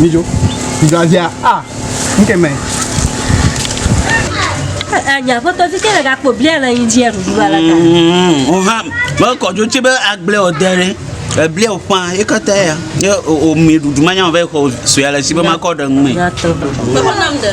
Mijo, Brazia, ah, nke me. Anya foto ti kele gakpo bia le yin dia dudu ala ka. Mm, o va, me ko jo ti be agble o dere. Eblia o pa, e ka ta ya. E o mi dudu manya o ve ko so ya le si be ma ko de ngme. Ko ko nam de.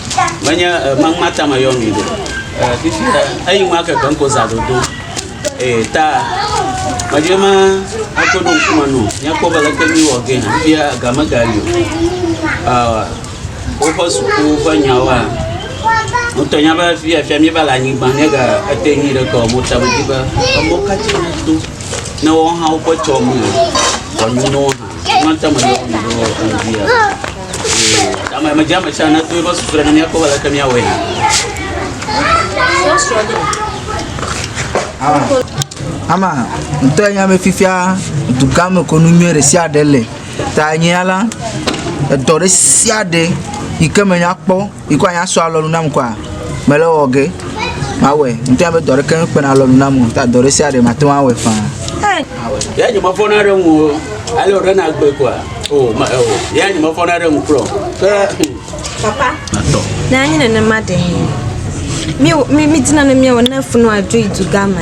menye magma tame yɔ mi ɖo fifi eyi ŋua keke ŋko za dodo ee ta medzɔe ma akɔ ɖo ŋkume no nyakpɔ be leke mi wɔ ge fifia game gali o woƒe suku ƒe nyawoa ŋutɔ nya be fia fia mi va le anyigba ne ga ete nyi ɖe kɔ mo tame di be emɔ katsi do ne wɔhawo ƒe tsɔ me wɔnu no Ama, ŋutɔ ya nya be fifia dugã me kɔnu nyuie ɖe sia ɖe le. Ta nyea la, edɔ ɖe sia ɖe yi ke menya kpɔ Ikɔ anya sɔ alɔnu nam kɔa, mele wɔ ge. Mawɔe. Ŋutɔ be dɔ ɖeke mekpena alɔnu nam o. Ta dɔ ɖe sia ɖe mate ŋu awɔe faa. Ya nye mefɔna ɖe ŋu o. Ale wòɖe na gbe kɔa. O, ma, o. Ya nye mefɔna ɖe ŋu kura o. Ke. Papa. Atɔ. Ne anyi nenema ɖe. Mi, mi, mi dina ne miawɔ ne funu adzo yi dugame.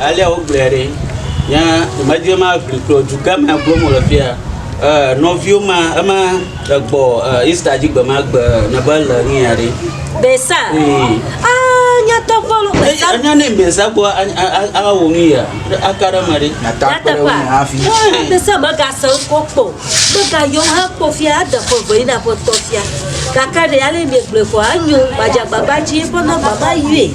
alea wogblɔe ɖi nye dɔmedzoe ma ʋli kplɔ dukɔ ma gblɔm wole fia e nɔviwo ma ema egbɔ e Easter dzi gbe ma gbe ne be le nu ya ɖi. Besa. Ee. Ah, nyatɔ vɔlu besa. Anya ne besa gbɔ ala wo nu ya aka ɖe me ɖi. Nyatɔ akpe ɖe wo ŋu hafi. Besa mega se ŋkɔ kpɔ. Mega yɔ ha kpɔ fia ade fɔ vɔ yina fɔ tɔ fia. Kaka ɖe ale mi gblɔ fɔ anyo gbadzagbagba dzi fɔ na baba yue.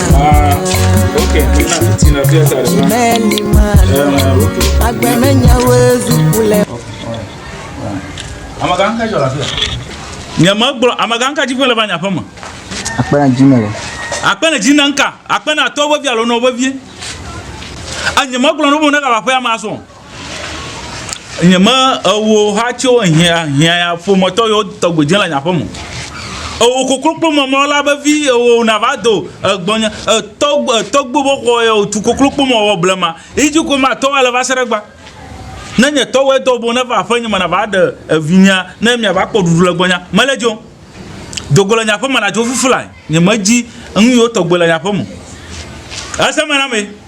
Ah, ok, mi na fiti na fia sa ɖe. Meli ma. Eh, ok. Agbe me nyawo zuku le. Amagã ka jɔ la fia? Nye me gblɔ amagã ka dzi ƒe le va nya ƒe me. Akpe na dzi me le. Akpe na dzi na nka. Akpe na tɔ vevia lo na vevie. Anye me gblɔ no mo ne ka va ƒe ama so. nye me ewo ha tso hiã hiã ƒometɔ yewo tɔgbe dze le nye aƒeme o. Ewo kokloklo memlɔ la vevi ewo nava do egbɔnye etɔgbe etɔgbe be xɔ ye wotu kokloklo me wɔ blema yi dzi ko matɔ ale va se ɖe egbea. Ne nye tɔwo edo ŋgbe neva aƒenye me nava ɖe evinyea ne miava kpɔ ɖuɖu le gbɔnyea mele dzo o. Do go le nye aƒeme nadzo fifi lae nye medzi nu yiwo tɔgbe le nye aƒeme o. Eseme na mee.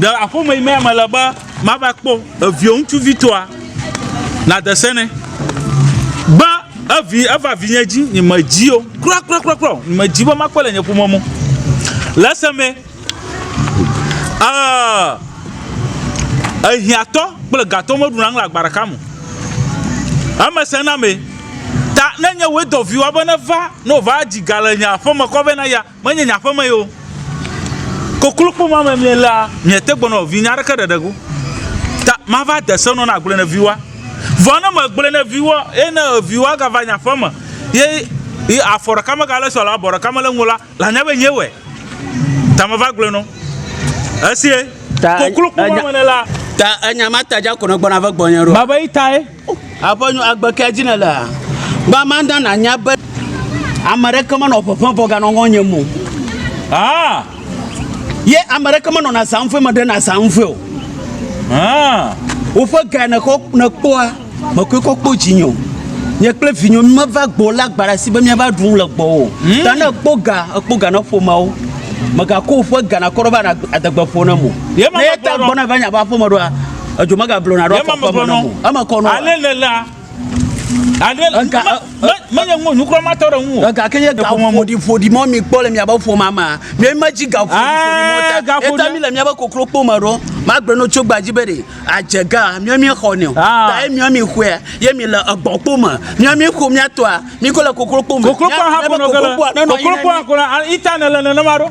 Ɖe aƒeme yi mea mele be mava kpɔ eviwò ŋutsuvitɔa? Nàde se nɛ be evi eva vinye dzi, nyemedi o kurakurakura o, nyemedi be makpɔe le nye ƒome me o. Le esemee, ee, ehiãtɔ kple gatɔ meɖuna nu le agba ɖeka me o. Eme sẽ na amee. Ta ne nye wòe dɔ viwòa be neva, ne wòva dzi ga le nye aƒeme kɔ vɛ na eya, menye nye aƒeme ye o. Koklukpɔ ma me mielea, miete gbenɔ vinye aɖeke ɖeɖe go. Ta mava de se nɔ na agblɔe ne viwoa. Vɔ ne megblɔe ne viwoa, eye ne viwoa gava nye aƒeme, ye yi afɔ ɖeka megale esi o alo abɔ ɖeka mele eŋu o la, lanya be nyee wɔe. Ta meva gblɔe nɔ. Esie. Ta koklukpɔ ma me nela. Ta enya ma ta dza ko nègbɔna ve gbɔnye ɖo. Mava yi tae. Aƒenyo agbe kea dzi nèlea? Gbã ma na nànya be ame aɖeke menɔ ƒeƒe vɔ ganɔ ŋɔnye mo. Ah! Ye ame aɖeke menɔna zaŋfue me ɖena zaŋfue o. Ah! Woƒe gae nèxɔ nèkpɔa, mekɔe kɔ kpɔ dzinye o. Nye kple vinyo mímeva gbɔ lé agba ɖe asi be míava ɖu nu le gbɔwò. Hmm? Ta ne èkpɔ ga, èkpɔ ga na ƒomeawo. Mègakɔ woƒe ga nakɔ ɖe woƒe adegbeƒowo na mo. Ye ma Ne ye ta gbɔna va nye aƒe aƒeme ɖoa, Edzo megagblɔ na ɖo afɔ ƒe mɔnu. Eme kɔ nɔ. Ale le la. Ale le. Ega. Menye ŋu nukura ma tɔ ɖe ŋu. Ega ke nye gaƒo mɔmɔdi ƒoɖi mɔ mi kpɔ le mia bɛ ƒo ma ma. Mi ma dzi gaƒo ƒoɖi mɔ ta. Gaƒo. Eta mi le mia bɛ koklo kpo ma ɖo. Ma gblɔ no tso gbadzi bɛ ɖe. Adze ga mi mi xɔ nɛ. Ta ye mi mi xɔe. Ye mi le egbɔ kpo ma. Mi mi xɔ mi atɔa. Mi ko le koklo kpo ma. Koklo kpo ha kpo nɔ gele. Koklo kpo ha kpo nɔ. Ita ne le ne ne ma ɖo.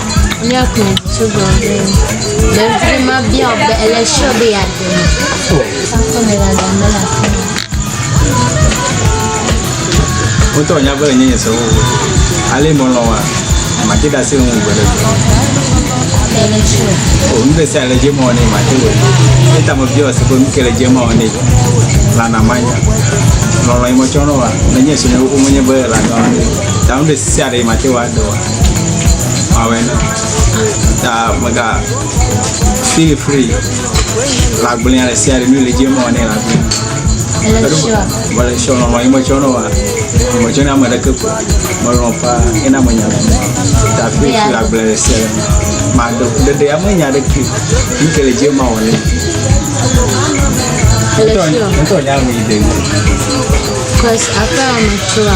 míakplɔ ŋutsu gã aɖe. Ɖevi ma bia wò be ele sure be yeaɖe mɔ. Aƒe me dada mele afi ma. Wotɔ nya be enye se wo. Ale mɔlɔ wa. Mate da se ŋu gbe ɖe. Ele sure. O nu ɖe sia le dze mɔ ne mate wɔ. Eta me bia wò se be nu ke le dze mɔ ne. Lana manya. Lɔlɔ yi mɔtsɔ nɔ wa. Nenye se ne wo menye be la nɔ. Ta nu ɖe sia ɖe mate wa do wa. Awɛ na. Ta mega feel free. Lagblẽa le sia le nu le dzi eme wɔnɛ lagblẽa. Elesio. Mele sɔ nɔ mɔ yi metsɔ nɔ wa. Metsɔ na ame ɖeke ko. Melɔ paa ena menya le me. Ta feel free lagblẽa le sia le me. Maɖe ɖeɖe ya menya ɖeke. Nu ke le dzi eme wɔnɛ. Elesio. Ŋutɔ nya ŋu yi de. Cause aƒea me tsoa.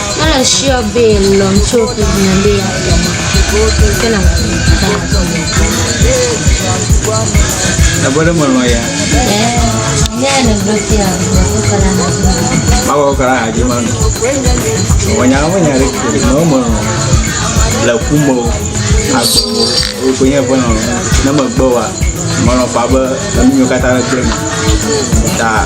Ele sure be lɔ tso ƒe ʋe be ya tɔ ma. Ke na tso ta tso me. Ebe ɖe melɔ̃ ya. Eh, ne ele ɖo fia, ya ko kala na tso. Mawa wo kala adzi ma no. Wɔnya wo nya ɖe ke na wo melɔ̃. Le ku mo. Agbe mo. Wo ko nye ƒe lɔ̃. Ne megbe wa. Melɔ̃ fa be enu nyo kata ɖe gblẽ. Ta.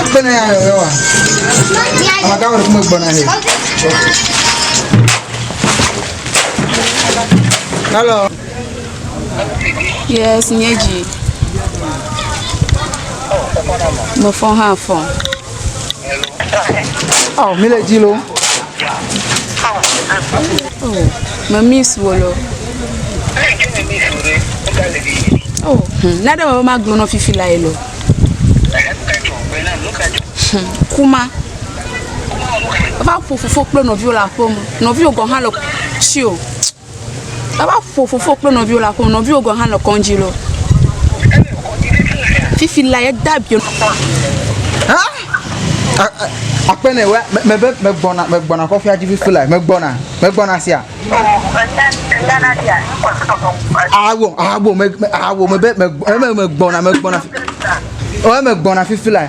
Agbana ya yɔ wa. Amaka wɛrɛ kuma gbana he. Hello. Yes, nye dzi. Mefɔ hã fɔ. Oh, mi le dzi lo. Me miss wo lo. Oh, hmm, na ɖe me be magblɔ nɔ fifi la ye lo. Hmm, kuma. Va ƒo fofo kple nɔviwo le aƒeme. Nɔviwo gɔ̃ hã le tsi o. Eva ƒo fofo kple nɔviwo le aƒeme. Nɔviwo gɔ̃ hã le kɔndzi lɔ. Fifi la ye da bio. Akpɛnɛ wɛ me be me gbɔna me gbɔna kɔfi adzi fifi la me gbɔna me gbɔna sia. Awo awo me awo me be me me gbɔna me gbɔna. Wɛ me gbɔna fifi la.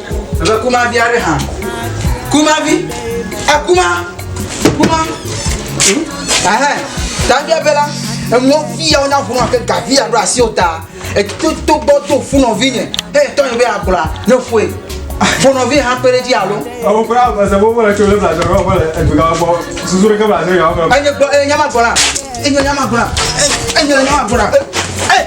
Ebe kuma vi aɖe hã. Kuma vi. Ekuma. Kuma. Ɛhɛn. Tavia be la, enuwo fi ya wonya ʋu nɔ ke gavi ya ɖo asiwo ta. Eto to gbɔ do fu nɔvi nye. He tɔ nye be agblɔa, ne fue. Fo nɔvi hã kpe ɖe edzi alo. Ewo kura ese wo wole tso le bla dɔ ɖo wole edu ga gbɔ. Susu ɖe ke bla dɔ ya wo. Enye gbɔ, enye nyama gbɔ la. Enye nyama gbɔ la. Enye nyama gbɔ la. Eh.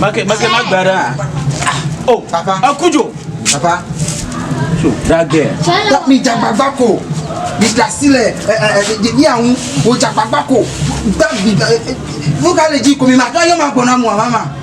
Make make ma gba ɖe a. O papa akudzo. Papa. So that girl. Mi jagbagba ko. Mi dasi le ɛ ɛ ɛ mi awu. O jagbagba ko. Gba mi. Vuka le dzi ko mi ma tɔ yɔ ma gbɔna mu a mama.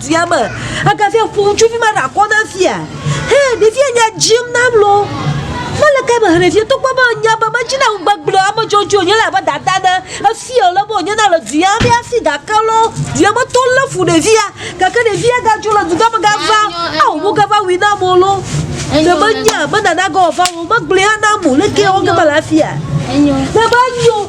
Fia me, egafia ƒo ŋutsuvi ma ɖe akɔ na fia. He, ɖevia nya dzim nam lo. Mele kae me hle fia, togbɔ be nya be medzi na ŋu gbegblẽ ame dzɔdzɔe wònye la abe dada ne. Efia wòle be wònye na le dua me hafi gake lɔ, dua me tɔ lé fu ɖevia. Gake ɖevia gadzo le dugã me gava, ao wo gava wui nam o lo. Ne menya, menana ge wòava o, megblɔe hã nam o. Leke ye wɔ ge mele afia? Ne menyo.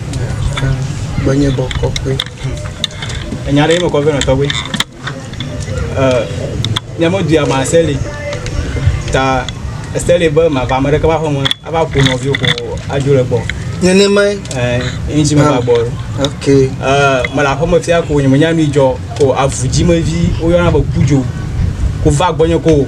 Gbɔnyebɔ kɔkɔe. Enya ɖe mekɔ vɛ nɔ tɔgbe. Ne meɖui ama seli ta seli be mava ame ɖeke va ƒe me ava ƒo nɔviwo ƒo adzo le gbɔ. Nenema ye. Ɛ ŋtsi me va gbɔ. Ok. Ɛ mele aƒeme fia ko nye menya nu yi dzɔ ko avu dzi me vi woyɔna be kudzo ko va gbɔnye ko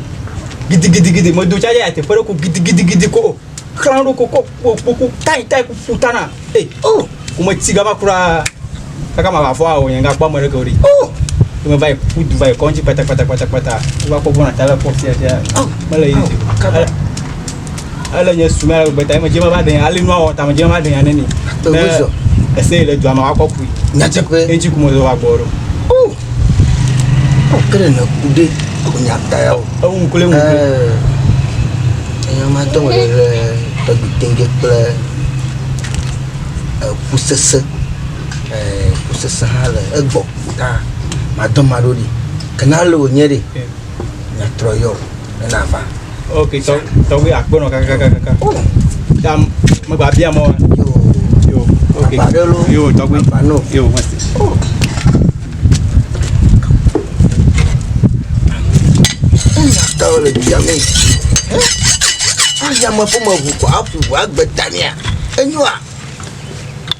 gidigidigidi medo tsa ye ateƒe ɖe ko gidigidigidi ko. xlã ɖo kokɔ kpokpoku tai tai kuku tana e eh, o oh, wometi gama kura kaka ma vavɔ awɔ yanga kpɔ ame ɖeke o ɖi o oh, wome va yi kuku du va yi kɔŋtsi kpatakpatakpatakpata wova kpɔ gbɔna ta le kɔ fia fia oh, mele yi ele nye sumɛ ale gbeta eme dze me va ɖenya ale nua wɔ tame dze me va ɖenya neni ne ese yi le dua me wakɔ kui nyatseƒe edzi kumɔ zɔ wa gbɔ ɖo Okele ne kude kunya taya o. Ewu kle ŋu. Enya ma tɔ wòle le tɔgbi tɛnke kple eku sese. Eku sese hã le egbɔ ta madɔ ma ɖo ɖi. Kena le wònye ɖe nyatrɔ yɔ ena va. ok tɔ tɔgbe akpɔnɔ kakakakaka ta megba bia mɔ yo ok yo tɔgbe yo mɔsi. Tawo le bia mi. Ayame ƒe me ʋu kɔ aƒu ʋu agbe tamia. Enyoa.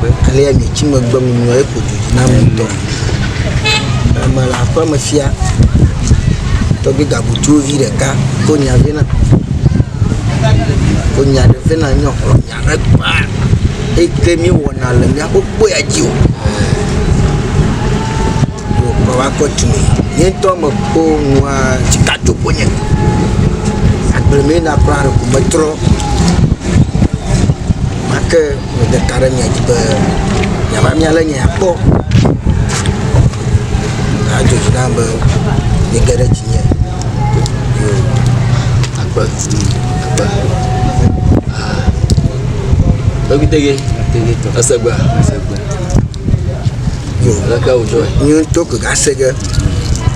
Megbe alea nye tsi megbe ŋunyɔ eƒo du dzi nam ŋutɔ. Eme le aƒeme fia tɔgbi gabutuwo vi ɖeka ko nya vɛ na. Ko nya ɖe vɛ na nyɔ xlɔ nya ɖe kpa. Eke mi wɔna le mia ko kpo ya dzi o. Yo kɔ wa kɔ tu mi. Nye tɔ me ko nua tsi ka to ko nye. Agble mi na kura ko me trɔ. Make Mede ta ɖe mia dzi be miava mia lé nye akpɔ. Adzɔ dzi nam be miege ɖe dzinye. Yo, akpe, akpe. Ah. Ebi tege, tege tɔ. Esegbe, esegbe. Yo, leke wòdzɔ. Nye ŋutɔ ke gase ge.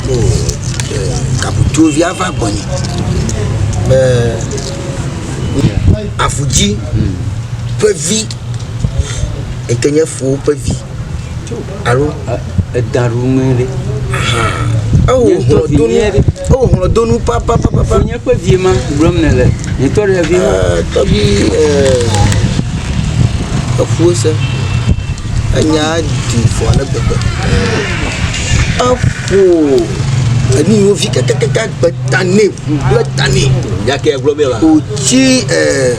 Yo, eh, kabutuvi ava gbɔnye. Be Avu dzi ƒe vi yi ke nye fowo ƒe vi alo eda ɖo ŋu ɖe. Ewɔ hlɔdonu ewɔ hlɔdonu papapapa. Fonye ƒe vi ma gblɔm ne le. Nye tɔ ɖe vi ma. Tɔgbi efuwo se. Enyaa ɖi fu ale gbegbe. Eƒo enu yiwo vi kakakaka gbe ta nɛ ƒu kple ta nɛ. Nya ke gblɔ bia la. Wòtsi eh,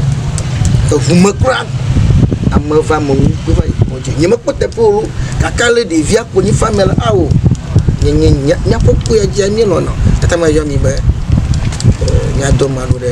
eŋu me kura. Ame va ame ŋu kpe va yi kɔdzi. Nyemekpɔ teƒe o loo gake ale ɖevia ƒo nyi fa mea la, ao, nye nye nya nya kpɔkpɔe ya dzia míelɔ̃na. Tatame yɔ mi be eh, míadɔ ame aɖewo ɖe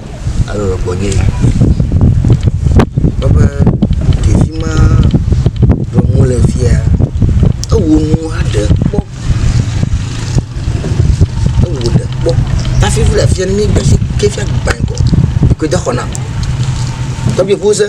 alɔ le gbɔnye yi. Kpɔ be ɖevi ma yɔm wo le fia ewu nu hã ɖe kpɔ. Ewu ɖe kpɔ hafi le afia ne m]e gbesi ke fia gba ŋgɔ. Ŋku de xɔ nam. Tɔgbi ŋuse.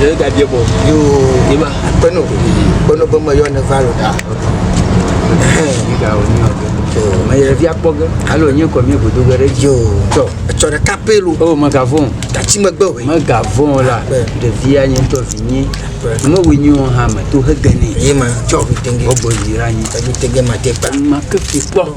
Ɖe gabia bɔ. Yoo. Yema. Kpeno. Kpeno be me yɔ ne va lo da. Yiga o ni ɔgɛ. Me yɛ via kpɔ ge. Alo nye kɔ mi godo ge ɖe. Yoo. Tɔ. Etsɔ ɖe kape lo. O me gavon. Tati me gbe we. Me gavon la. De via nye tɔ vi nye. Me we nyo ha me to he gene. Yema. Tɔ. Obo yira nye. Ebi te ge ma te pa. Ma ke fi kpɔ.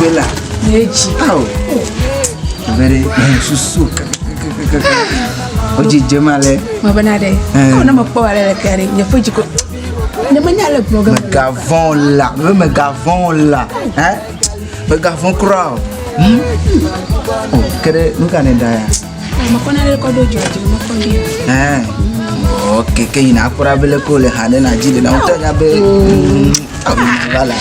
Bela. N'edzi. Ao. Ave ɖe eh, susu kakakakaka. Wodzidze ma le. Mabena ɖe. Eh. Ɔ ne mekpɔ ale le kea ɖe nye ƒe dzi ko. Ne menya le gblɔ ge. Megavɔn o la. Me megavɔn o la. Hɛ. Megavɔn kura o. Hmm. O ke ɖe nu ka ne da ya? Mekɔna ɖe kɔɖo dzi dzi mekɔ dzi. Ɛɛ. Ok, ke yina akpɔra bele ko le ha ɖe na dzi ɖe na ŋutɔ nya be. Mm, awu va la.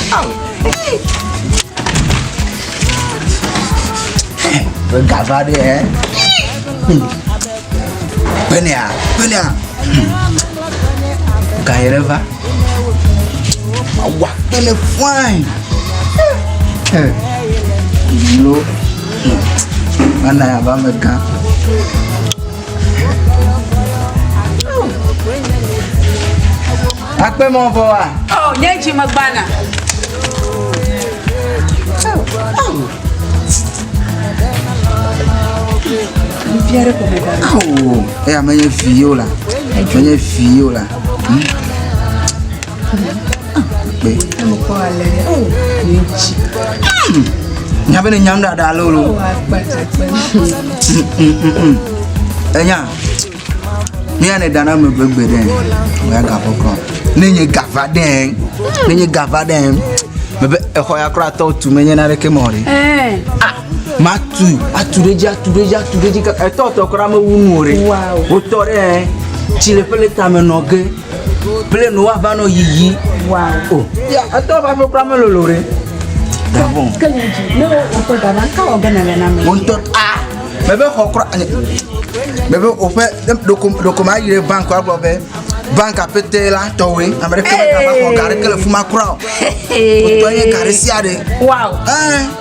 Be gava ɖe ɛ. Benea, benea. Ka yɛrɛ va. Awa kpele fine. Eh. Lo. Mana ya ba me gan. Akpɛ mɔ vɔ wa. Ɔ nye dzi me gbana. Nufiare kɔ me gbana. Awo. Eya me nye fi yo la. Me nye fi yo la. nya be ne nyam ɖaɖa lolo enya ne ya ne dana me gbegbe ɖe ya gavɔ kɔ ne nye gava ɖe ne nye gava ɖe mebe exɔ ya kura tɔ tu me nye na ɖeke mɔ ɖe Matu, atu ɖe edzi, atu ɖe edzi, atu ɖe edzi kaka etɔ tɔ kura mewu nu o ɖe. Wotɔ ɖe ɛ, tsi le ƒele tame nɔ ge. Ƒele nɔ woava nɔ yiyi. O, ya etɔ va ƒe kura melolo ɖe. Gabon. Ke nye dzi, ne woƒe gaba, ka wɔ ge nèle na ame? Wontɔ a mebe xɔ kura ne mebe woƒe ne ɖoko ɖoko ma yi ɖe bank agblɔ be bank apete la tɔwoe ame ɖeke mega va xɔ ga ɖeke le fuma kura o. Wotɔ ye ga ɖe sia ɖe. Wow. Ɛɛ.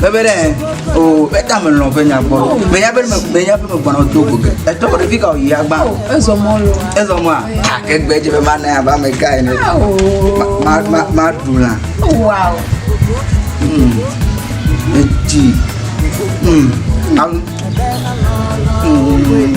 Bebe ɖe o beta me lɔ ƒe nya gbɔ. Be ya be me be ya be me gbɔna do go ke. Eto ko ɖevi ka o yi agba. Oh, ezo mɔ lo. Ezo mɔ a. Ta ke gbe je be ma na ya ba me ka ene. Oh. Ma ma ma du la. Oh, wow. Hmm. Eti. Hmm. Am. Hmm.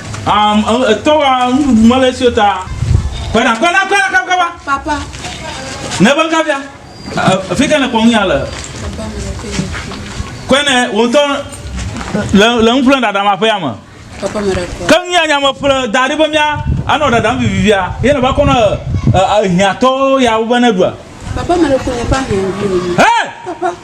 Um, etɔ wa nuɖuɖu mele esi ta. Kpena kpena kpena kaba kaba. Papa. Ne be kabia. Fi ke ne kpɔ ŋu ya le. Kpene wo ŋutɔ le le ŋu ƒle ɖaɖa ma ƒe ya me. Papa me ɖe kpɔ. Ke ŋu ya nyame ƒle da ɖe be mia anɔ ɖaɖa vivivia. Ye ne va kɔ na ehiatɔ ya wo be ne ɖua. Papa me ɖe kpɔ ne pa hiã. Hey! Papa.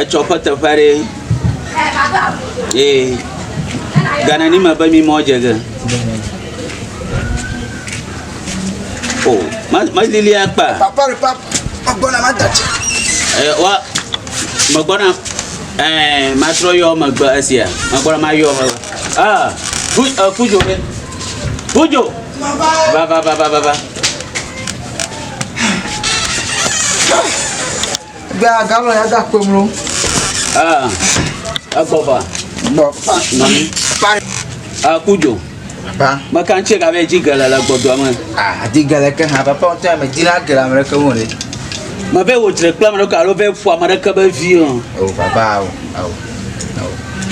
etsɔ ƒe teƒe ɖe ee gana ni me be mi mɔ dze ge o oh, ma ma lili akpa papa re papa agbɔna ma da tse ɛ eh, wa me gbɔna ɛɛ eh, ma trɔ yɔ me gbɔ esia me gbɔna ma yɔ me ah fu ɛ eh, fujo ɖe fujo va va va va va va. Gbé agalɔ ya da kpe mlo. Ah, agbɔva. Gbɔ. Nɔmi. Pa. Ah, kujo. Pa. Maka ŋtsi ka bɛ dzi gele le gbɔdɔ me. Ah, di gele ke hã papa ŋtɔ ya me di la gele ame ɖeke wo le. Me bɛ wo dzre kple ame ɖeke alo bɛ fu ame ɖeke be vi o. O papa awo awo.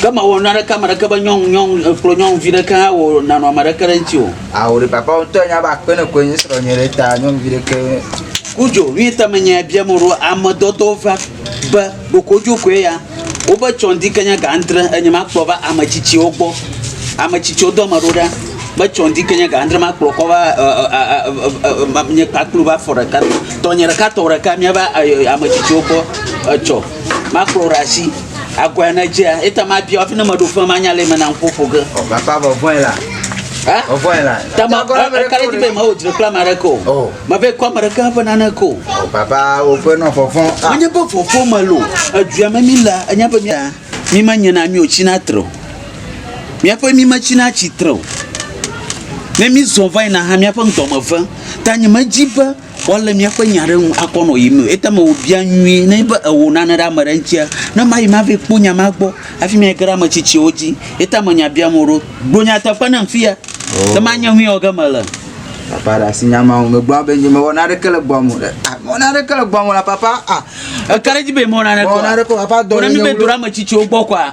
Ke ma wo na ɖeke ame ɖeke be nyɔnu nyɔnu ekplɔ nyɔnuvi ɖeke hã wo nanɔ ame ɖeke ɖe ŋtsi o. Awo ɖe papa ŋutɔ nya be akpe ne koe nye srɔ̃ nye ɖe ta nyɔnuvi ɖeke. Kudzo mi te me nya bia mo ɖo ame dɔdɔ va be bokodzo koe ya. Wo be tsɔn di kenya ga andre enye ma kplɔ va ame tsitsiwo gbɔ. Ame tsitsiwo dɔ me ɖo ɖa be tsɔn di kenya ga andre ma kplɔ kɔ va nye kpakplu va fɔ ɖeka. Tɔ nye ɖeka tɔ ɖeka mi va ame tsitsiwo gbɔ etsɔ ma kplɔ ɖe asi. Agɔe ne dzea, eta mabia fi ne meɖo fem manya le me na ŋkɔ ƒo ge. O papa vɔ vɔe la. Ha? O vɔe la. Tama kala di be ma o dzre kla ma ɖe ko. O. Ma be kwa ma ɖe ka fe nane ko. O papa o fe no fofo. Ma nye be fofo ma lo. Edua me mi la, anya be mi mi ma nye na mi o chi na tro. Mi ape mi ma chi na chi tro. Ne mi zon vai na ha mi ape ŋdɔ me ve. Ta nye me dzi be Woalé míaƒe nya ɖe ŋu akɔ nɔ yiyim nɛ o. Eya ta mewɔ bia nyuie ne be ewɔ nane ɖe ame ɖe ŋutia, ne mayi mava kpɔ nya ma gbɔ hafi mayi ge ɖe ame tsitsiwo dzi. Eya ta me nya biam wò ɖo. Gblɔ nyateƒe nam fiya be manya nu yi wɔ ge mele. Papa ɖe asi nya ma ŋu. Megblɔ be nye mewɔ nane ɖeke le gbɔa me o. Ah, mewɔ nane ɖeke le gbɔa me la papa. Ah, Eka ɖe edzi be mewɔ nane kɔ. Mewɔ nane kɔ papa dɔ. Wona mi be do ɖe ame tsitsiwo gbɔ kɔa,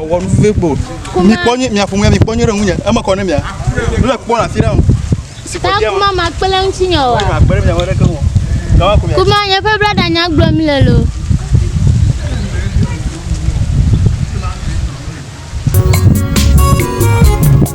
Wɔ nu vevie kpo. Mi kpɔ nyi mia fumia mi kpɔ nyi ɖe ŋunye. Eme kɔ ne mia. Le kpɔ na fi ɖe. Si kpɔ dia. Kuma ma kpe le ŋuti nyo. Kuma kpe le mia wele ke mo. Kuma kuma. Kuma nye fe brada nya gblɔ mi le lo.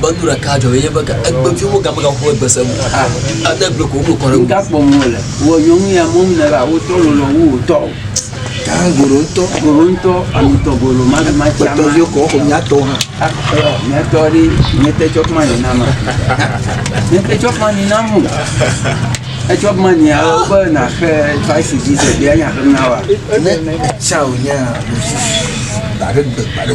Be nu ɖeka dzɔ ye be egbe vi wo game gaƒo egbe se mo. Ah. Ade gbe ko wo kɔ ɖe. Ga kpɔ mo le. Wo nyɔnu ya mo ne ba wo tɔ lo lo wo tɔ. Ka goro tɔ. Goro tɔ ami tɔ goro ma ma cha. Tɔ vi ko ko nya tɔ ha. Ah, nya tɔ ri ne te chok ma ni na ma. Ne te chok ma ni na mo. Etsɔ ma ni a wo be na xe faisi di se bia nya xe na wa. Ne cha o nya. Ba de ba de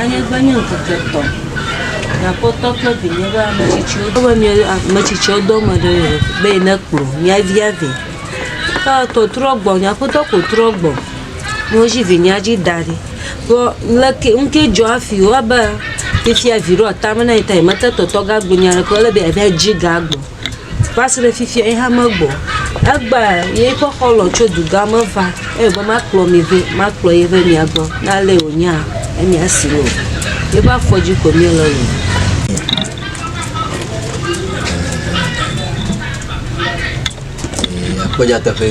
Anye be nye ŋkeke etɔ̃ mia kpɔtɔ kple vinye be ame tsitsiwo dɔ be mia ame tsitsiwo dɔ ame ɖe ɖe be yi ne kplɔ mia via ve. Ke tɔ trɔ gbɔ mia kpɔtɔ ko trɔ gbɔ ne wo dzi vinyea dzi da ɖi. Kpɔ leke ŋke dzɔ afi wo abe fifia vi ɖewo atame na yi ta yi mete tɔtɔ ga gbe nyuie ɖe kpɔ le be ya va dzi ga gbɔ. va se ɖe fifia ye hã megbɔ o. Egbe yeƒe xɔlɔ̃ tso dugã me va eye wòbe makplɔ mi vɛ, makplɔ ye va mia gbɔ. Ne alee wònyea, enye esi loo. Yeƒe afɔdzi koe míele loo. Ee, akpɔ nyateƒe.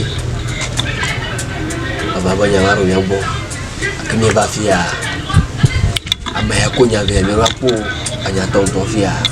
Ava be nya va ɖo mía gbɔ. Gake míeva fiaa, ame ya ko nya vɛ míeva kpɔ o. Anyatɔ ŋutɔ fiaa.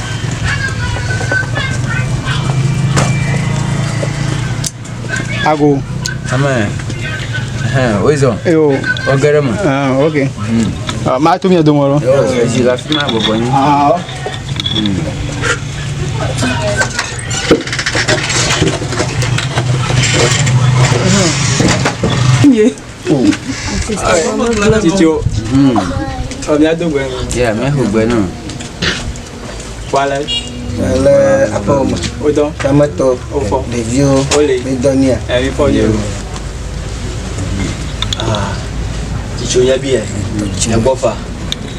ago amen wezɔ eyo ɔgɛ ɖe me ok maa to mia dome lɔ ezi le afi ma bɔbɔ nyi Yeah. Titio. Ɔ miado gbe nu. Yɛ mexo gbe nu. Kpɔalɛ. Le aƒewo me. Wodɔ. Tametɔ. Wofɔ. Ɖeviwo. Wole. Midɔ nia. Ɛ mi fɔ yɛ. Titio yabi yɛ. Egbɔfa.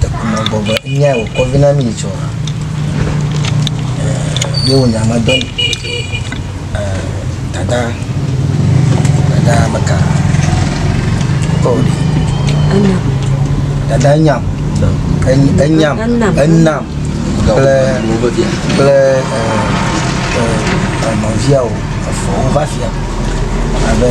Tekpnɔgbɔgbe nyae wòkɔ vi na mí tsɔ. Ye wò nya me dɔ ni. Dada, dada meka. Kɔ ɖi. Enam. Dada nyam. Enyam. Enam. Enam. Kple kple nɔvia o. Efɔ wova fia. Abe.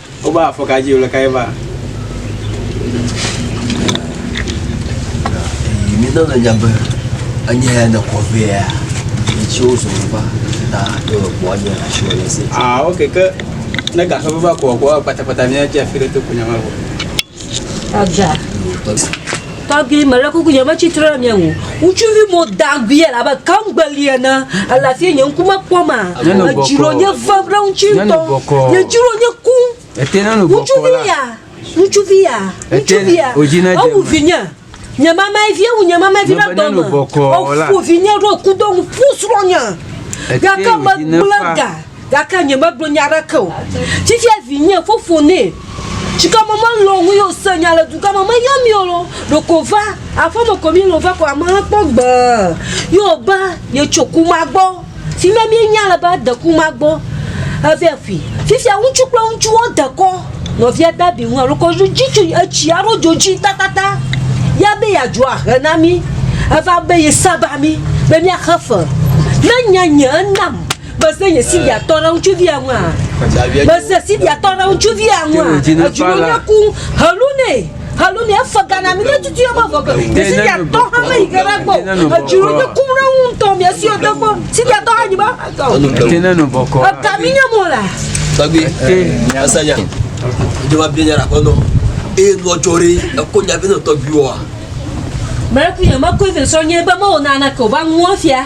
Woba afɔka dzi wòle kae va? Mina le nya be anya ya ne kɔ vɛ ya etsi wo zɔn va ta to ekpɔ anya la tsi wòle se. Ah ok ke ne gafefe va kɔ kɔ kpatakpata ne tsi afi ɖe to ko nya ma vɔ. Aga. Tɔgbi, mele kuku nye me tsitre ɖe mia ŋu. Ŋutsuvi mo dagbia le abe kamgbeli ene. Ele afi nye ŋku me kpɔ ma. Edzi ɖo nye ve ɖe ŋuti ŋutɔ. Nye dzi ɖo nye ku. Ŋutsuvi ya, ŋutsuvi ya, ŋutsuvi ya. Ewu vinye. Nye mamae vie wu nye mamae vi ɖe dɔ me. Eƒu vinye ɖo kudo ŋu ƒu srɔ̃nya. Gake megblẽ ga gake nye megblɔ nya aɖeke o. Fifia vinye fofo nɛ. Tsikɔ me melɔ ŋu ye o se nya le dugã me meyɔ mi o lo. Ɖeko va aƒeme ko mi lɔ va ko ameha kpɔ gbee. Ye wo be ye tso kuma gbɔ. Fi ma míenya le be deku ma gbɔ eve ƒui. Fifia ŋutsu kple ŋutsu wo dekɔ nɔvia Dabi ŋu alo kɔ dzi tso etsi aɖo dzo dzi tatata. Ya be ya dzo ahe na mí. Eva be ye saba mí be mía xe fe. Ne nye nye enam me ze nye sidia tɔ ɖe ŋutsuvia ŋua? Me ze sidia tɔ ɖe ŋutsuvia ŋua? Edzi nɔ nye kum he lu nɛ. Alo mi efe gana mi ne tutu ye me vɔ ke. Te si dia tɔ ha me yi ke ɖe gbɔ. Etsi ro de kum ɖe ŋu ŋutɔ mi esi ɔte gbɔ. Si dia tɔ ha nyi ba. Te ne no bɔ kɔ. Eka mi nye mo la. Tagbe. Asanya. Jema bi nya ko no. E no chori e ko nya bi no to bi wa. Mɛ ku ye ma ko ve so nye ba mo na na ko ba ŋu afia.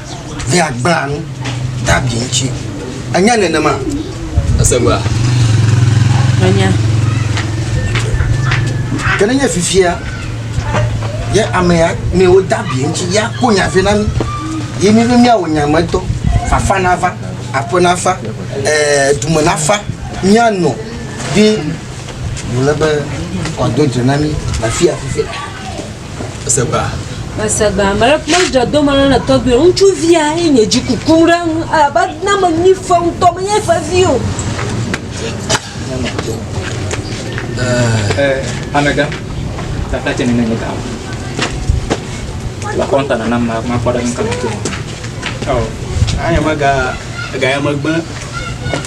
be agbla nu David ŋuti. Enye nenema? Ese ŋua? Menya. Ke nenye fifia ye amea mewo David ŋuti ya ko nya vɛ na mi, ye mi be miawɔ nya me dɔ, fafa nava, aƒe nafa, ee, dume nafa, mianɔ ɖi, wòle be wòado dze na mi le afi ya fifia. Mese gbã. Mese gbã. Ame ɖe kple dzɔ do me le tɔgbi. Ŋutsu via ye nye dzi kuku ɖe ŋu. Aba na me nyi fe ŋutɔ me nye fe vi o. Eh, amega. Ta ta tse nene nye ta. La konta na ma ma kwa da nka. Oh. Anya maga ga ya magba.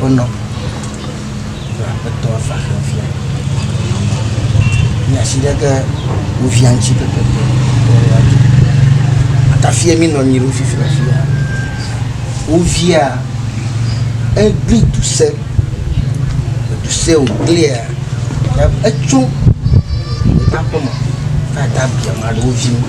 Wonɔ be aƒetɔ va xe via mi asi ɖe ge wo via ŋuti pɛpɛpɛ be woaɖu. Atafia mi nɔ anyi ɖo fifi le afi ya. Wo via egli du se edu se woglia ta etso ɖeka ƒe me va da biame aɖe wo vi ŋu.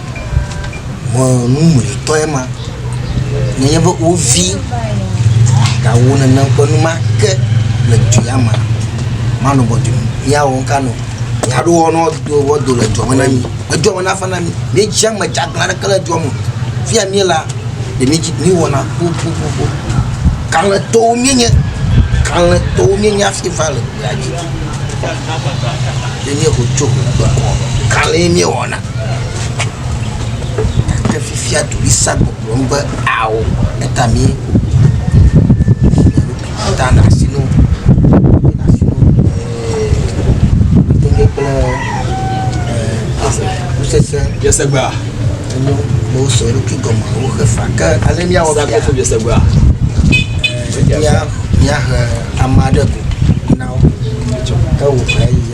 Ŋɔ numlɔetɔe ma. Nenye be wo vi gawo nenem ƒe nu ma ke le dui ya me. Manɔ gbɔ dui me. Míawɔ nu ka nɔ? Míaɖo wɔ nɔ do wɔ do le dua me na mí. Edua me nafa na mí. Míedze eme dzeaglã ɖeke le dua me o. Fi ya míe la ɖe míedzi míewɔna xoxoxo. Kalẽtɔwo míenye. Kalẽtɔwo míenye hafi va le gbea dzi. Ne míexɔ tso ŋgɔgbe kɔ kalẽ míewɔna. Ke fifia ɖoɖoea gbɔgblɔm be ao eta mí ta le asi na wo. Tɔgbe kple kusese. Yese gba. Enyo ne wosɔ eɖokui gɔme woxe fa ke ale míawɔ fia. Sakofo yese gba. Mía mía he ame aɖe go na wo. Ke wò fa yi.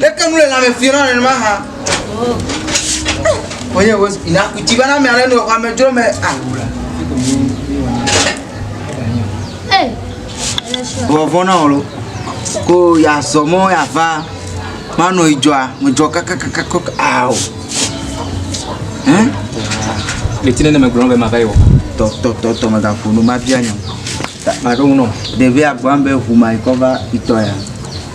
Leke nu le lãme fiẽ na nenema hã? Wonye wo ina kuti bana mea ɖe nu exɔ ame dzro me awura. Vɔvɔ na wolo. Ko ya zɔ mɔ ya va. Ma no idzɔa, mo dzɔ kaka kaka kaka awo. Hein? Le tine ne me gblɔ be ma va yi wɔ. Tɔ tɔ tɔ tɔ me ga ƒo no ma bia nyɔ. Ma ɖo no. Ɖevi agba be ʋu ma ikɔ va itɔ ya.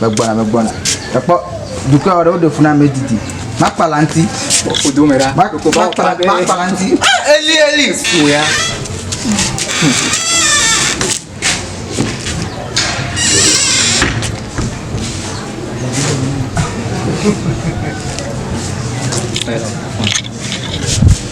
megbɔna megbɔna ekpɔ dukɔ aɖe woɖe funa me didi makpala ŋti makpala ŋti eli eli wòya Thank you.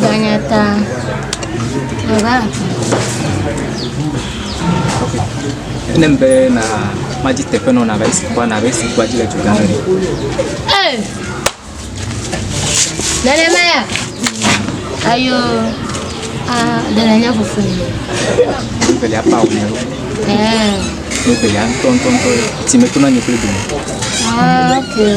Ganyata. Eva. Enem be na madzi teƒe nɔ nabe esi kpɔ nabe esi kpɔ dzi le tu gãme. Ee. Nenema ya. Ayo. A de la nya fufu. Bibeli apa wo ne. Ee. Bibeli an ton ton ton. Ti me kuna nyi kule bi. Ah, okay.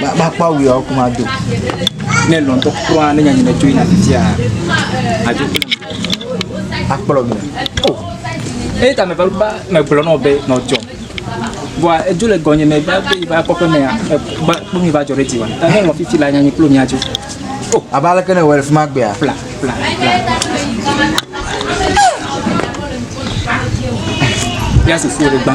Ma- makpɔ awu yawo ko mado ne lɔntɔ kura ne nyanyina tso yina titia adzo akplɔ mi eye ta meva ba megblɔ nɔ be nɔdzɔ bɔa edzo le gɔnye me va be va kpɔƒe mea ba kpɔ mi va dzɔ ɖe dzi wa ne nɔ fifi la nyanyi kplo miadzo abe aleke ne wɔ le fi ma gbea fla fla fla ya soso ɖe gbã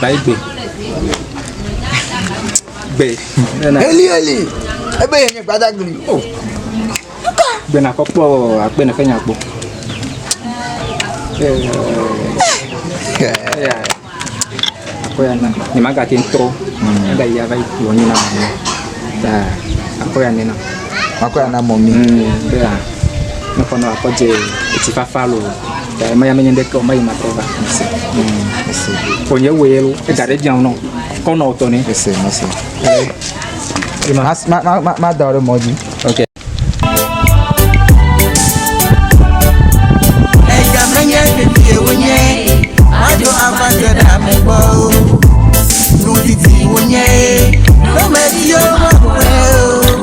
Baigbe. Gbe. Eli eli. Ebe yɛ nye gbadagli. Oh. Gbe na kɔkpɔ akpe ne fɛnya kpɔ. Eh. Eh. Akɔ ya na. Ni ma gati ntɔ. Ada yi ava yi kplɔ nyi na mɔ. Da. Akɔ ya nena. Akɔ ya na mɔ mi. Mm. Bea. Ne kɔnɔ akɔ je eti fafa lo. Dae maya menye ɖe tɔ mayi matrɔ va. Mese. Mese. Konye wo yelo. Ega ɖe djao nɔ. Kɔnɔ o tɔne. Mese. Mese. Ma ma ma ma ma da o ɖe mɔ dzi. Ok. Ega menye ɖeɖe wonye. Maɖo ava te ɖe ame gbɔ o. Nudidi wonye. Lomedi yo ma.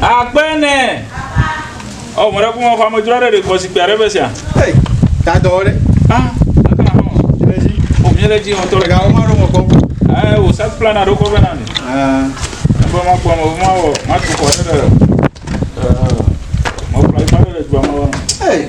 Akpɛnɛ. Ɔ mɔ ɖe kuma fama dzra ɖe ɖe kɔ zikpui aɖe be sia. Hey, ta dɔ ɖe. Ah, kana hɔ. Le dzi. O mi le dzi on tɔ. Ga o ma ro mo kɔ. Eh, o sa plan na ro kɔ be na ni. Ah. Bo ma kɔ mo ma o, ma tu kɔ ɖe. Eh. Mo plan ma ɖe gba mo. Hey.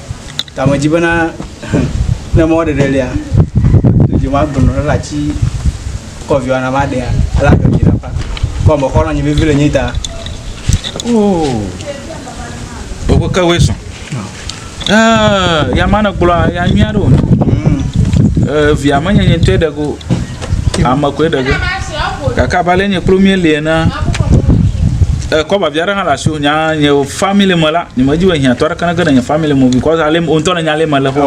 Ta medzi bena ne mɔ ɖeɖe lia, dzi ma gbɔnɔ ɖe la tsi kɔviwa na ma ɖea, ele agbe dzi na pa. Kɔ me xɔlɔ nyi vevi le nyi ta. Oh. Ogo ke we sɔn. Eh, ya ma ne gblɔ ya nyuia ɖo. Mm. Eh, via menyenye tɔe ɖe go. Ame koe ɖe ge. Gake abe ale nye kplo mie lie na eh, kɔba via ɖe hã le asi o nya nye family me la nye me dzi be hiã tɔ ɖeke ne ge ɖe nye family me because ale o ŋutɔ ne nya ale me le xɔ.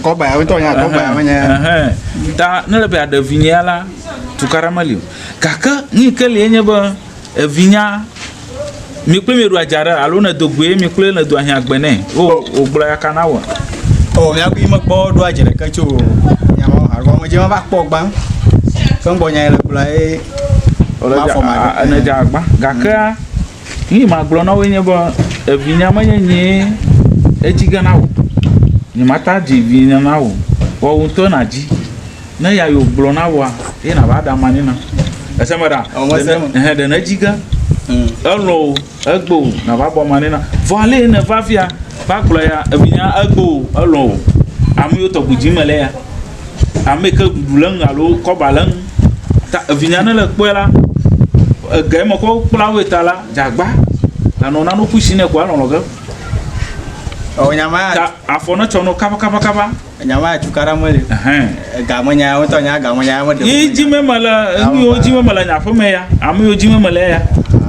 Kɔba ya ŋutɔ nya kɔba ya menye. Ta ne le be aɖe vinyea la tukaɖa meli o. Gake nu yi ke lie nye be Evinya, mi kple mi ɖu adza ɖe alo ne do goe mi kple ne do ahiã gbe nɛ. Wo wo gblɔ ya kana wɔ. O mi aku me kpɔ ɖu adza ɖe ke tso. Ya mo alo me je ma ba kpɔ gba. Fe gbɔ nya le kula e. Ole ja a ne ja gba. Gakea ni ma gblɔ na wo nye bo evinya me nye nye etsi gana wo. Ni mata dzi vinya na wo. Wo ŋutɔ na dzi. ne ya yo gblɔ na wa ye na ba da ma ni na ese me da o me se me he de ne jiga elo o egbo o na ba bɔ ma ni na vɔ ale ne va via ba gblɔ ya ebi nya egbo o elo o ame yo tɔ gudzi me le ya ame ke gudu le ŋu alo kɔ ba le ŋu ta ebi nya ne le kpɔe la ege me kɔ kpla wo ta la jagba anɔ na no kusi ne ko alɔ lɔ ge o nya ma ta afɔ ne tsɔ no kaba kaba kaba Enya ma cukaɖa meli. Ega me nya wotɔ nya ega me nya me de. Yi dzi me me le enu yiwo dzi me me le nya ƒe me ya. Ame yiwo dzi me me le ya.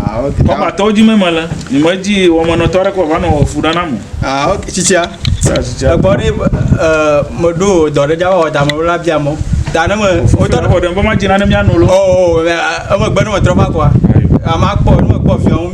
Ah ok. Kɔba tɔwo dzi me me le. Ni me dzi wɔmenɔ tɔ ɖe kɔ va nɔ fu ɖe na mo. Ah ok tsitsia. Sa tsitsia. Egbɔ ɖe eh me ɖo dɔ ɖe dza wɔ da me la bia mo. Da ne me. Wotɔ ɖe. Wotɔ ɖe me dzi na ne mia nu lo. Oh oh eme gbe ne me trɔ va kɔa. Ama kpɔ ne me kpɔ fiɔ.